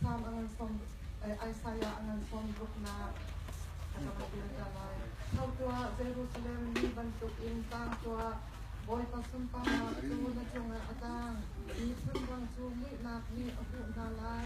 Psalm angan som Isaiah angan som book na Thau tua Jerusalem ni bantuk in tang tua Bawipa sumpangnak cu na cungah a tang Mi chimrang cu muihnak nih a huh hna lai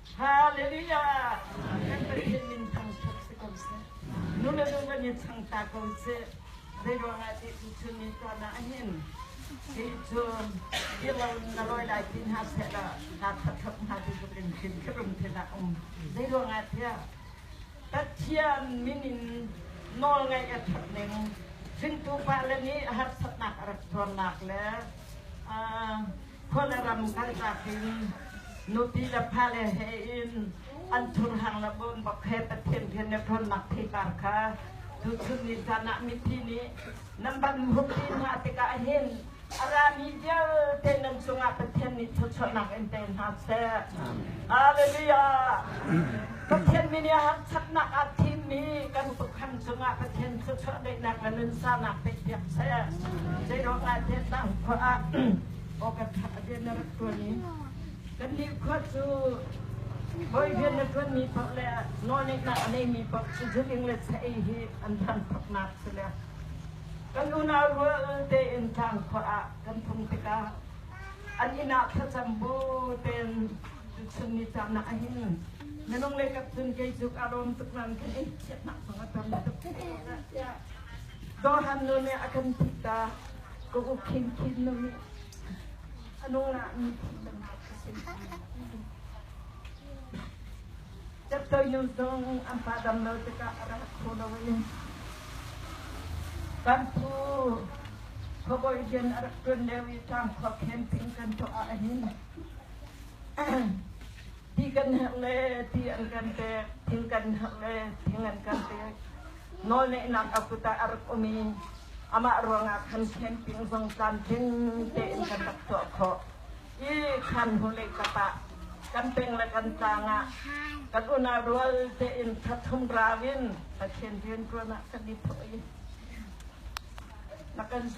Hallelujah! Kan Pathian min thangṭhat si ko seh. Nu le nu kan i chang ta ko seh. Zeiruangah ti tu chun ni tuan ah hin ti chun i lo na loi lai ti hna seh la na thathap hna tu tuk in khin krum te na um. Zeiruangah tiah Pathian min in nawl ngaih a that ning hringtu pa le nih harsatnak a rak tuarnak le uh, khua le ram kaltak in nupi le fale he in an thurhang le bon bak he Pathian rian le ṭhawnnak theipar kha tuchun ni caan ah mithi nih nan van huppi hna tikah hin a rami vialte nan cungah Pathian nih thawchuahnak in pe hna seh. Hallelujah! Pathian min i a harsatnak ah thimmi kan tukham cungah Pathian cu chawhdeihnak le nunsanak teipiak seh. Zeiruangahtiah tah khua ah aw kan ṭha rian na rak ṭuan i kannih khua cu hawi rian na ṭuanmi paoh le nawlneihnak a neimi paoh cu zuling le chei hi an thangṭhatnak si le kan unau rual tein tlang khua ah kan phung tikah an inn ah thlacam baw tein chunni caamnak a hin minung le kap cun kei cu ka lawm tuk nain kan ei chiatnak zong a tam tuk tiah Dohan nu nih a kan thih ta ka u khin khin nu nih a nu lah mi thih tamnak a si Chaptayu zong an pa dam lo tikah a rak phu lo i kan phu khuabawi rian a rak ṭuan lio i ṭang khuakhen ping kan tuah ah a hin ti kan herh le ti an kan pek thing kan herh le thing an kan pek nawlneihnak a kut ah a rak um i amah ruangah khan khen ping zong tlamtling tein kan rak tuah khawh Hi khaan vawlei kap ah kan peng le kan tlang ah kan unau rual tein thathum rau in Pathian rianṭuan ah kan i thawh i na kan zul